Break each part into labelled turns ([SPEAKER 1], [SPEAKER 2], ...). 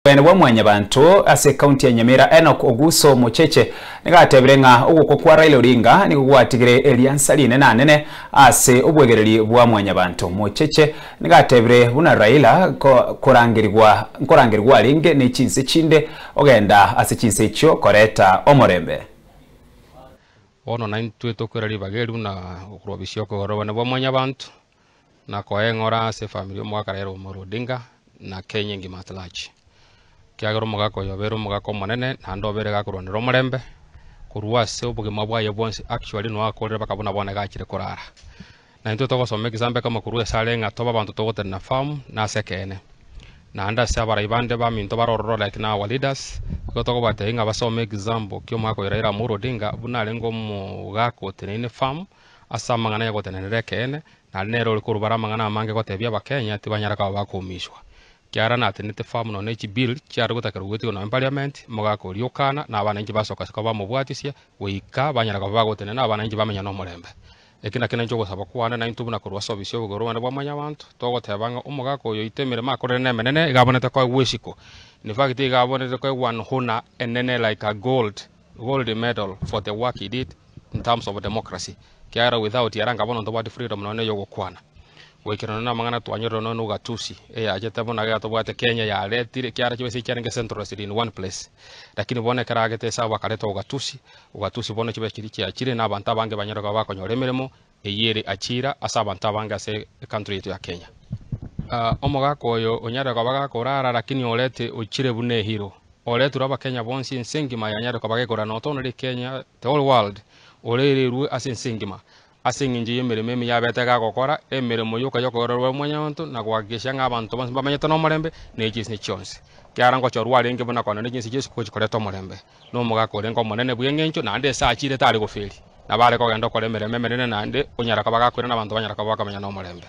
[SPEAKER 1] Omonene bwa Mwanyabanto ase County ya Nyamira Enock Oguso Mocheche nigo atebire ng'a ogokwa kwa Raila Odinga nigo gwatigire eriansa rinene anene ase obwegereri bwa Mwanyabanto. Mocheche nigo atebire buna Raila korangerigwa nkorangerigwa arenge ne chinse chinde ogenda ase chinse echio koreta omorembe.
[SPEAKER 2] Bono naintwe tokwera ribaga eri buna okorwa bisiokwa obonene bwa Mwanyabanto. na koeng'ora ase efamiri omogaka Raila Omolo Odinga na Kenya engima at large, ekiagera omogaka oyo obeire omogaka omonene naende obeire gakorwanera omorembe korwa ase obogima bwaye bwonsi actually noo akorire mpaka buna bono iga achire korara. Na intwe togosoma egesaamba ekemo korwa esare ng'a tobe abanto togotenena firm na ase ekeene, naende ase abarai bande baminto bare ororo like now our leaders, nigo tokobatebia ng'a basome example kia omogaka oyo Raila Omolo Odinga buna arenge omogaka oteneine firm. Ase amang'ana y'ogotenenera ekeene, nare nere ore korubare amang'ana amange gotebia Abakenya tibanyare koba bakoumishwa. Kiagera natenete faa muno ne chibill chiare gotakerwa gwetigwa nonya parliament, omogaka oria okana na abananchi basoka koba bamobwatisie goika banyare koba bagotenena abananchi bamenya nomorembe. Eki nakio nainche ogosaba kwane naintwe buna korwa ase ofisi y'obobe korobande bwa Mwanyabaanto, togoteba ng'a omogaka oyo oito emeremo akorire nemenene, iga abonete koegwa isiko. In fact iga abonete koegwa nhuna enene like a gold. gold medal for the work he did in terms of democracy ekiagera without ere nkaba nonya ntobwati freedom nonya ya ogokwana goikera nonya na amang'ana twanyorire nonya na ugatusi eyachete buna iga tobwate Kenya yaretire ekiagera chibesa echi chiarenge centralized in one place lakini bono ekero agete ase abo bakareta ugatusi, ugatusi bono chibesa chiria chiachire na abanto abange banyare koba bakonyora emeremo Eyio ere achira ase abanto abange ase ecountry yaito ya Kenya. Omogaka oyo onyare koba gaka orara lakini orete ochire buna ehiro. Oreturwe abakenya bonsi ense engima yanyare koba gekora not only Kenya the whole world orererwe ase ense engima ase engencho yemeremo emiya abete gagokora emeremo yoka yokorerwa omonyonto na gohakikisha ng'a abanto bonsi mbamenyete nomorembe ne chinse chionsi. Kiara ngochorwa arenge buna kona ne chinse chionsi gochi koreta omorembe. nomogaka orenge omonene bw'engencho, naende ase achiire tare goferia, na bare kogenda okora emeremo emenene, naende onyara koba agakwera, na abanto banyara koba bakomenya nomorembe.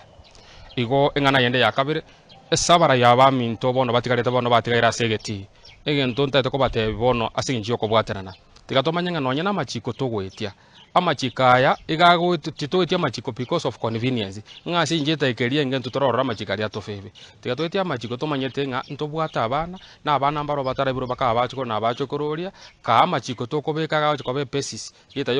[SPEAKER 2] Igo eng'ana yende ya kabere, ase abarayia abaminto bono batigarete bono batigaire ase egetii, egento ntaete kobateebia bono ase engencho y'okobwaterana, tiga tomanye ng'a nonye namachiiko togoetia. Amachiko aya iga agoetwe, titoeti amachiko because of convenience, ng'a ase encheta ekeria engento tororore amachiko aria tofe ebe. Tiga toeti amachiko tomanyete ng'a ntobwate abana, na abana mbaro batarabirwe bakaba abachukuru na abachukuru oria, kaa amachiko tokobeka iga agochia koba epesis, rieta yoria.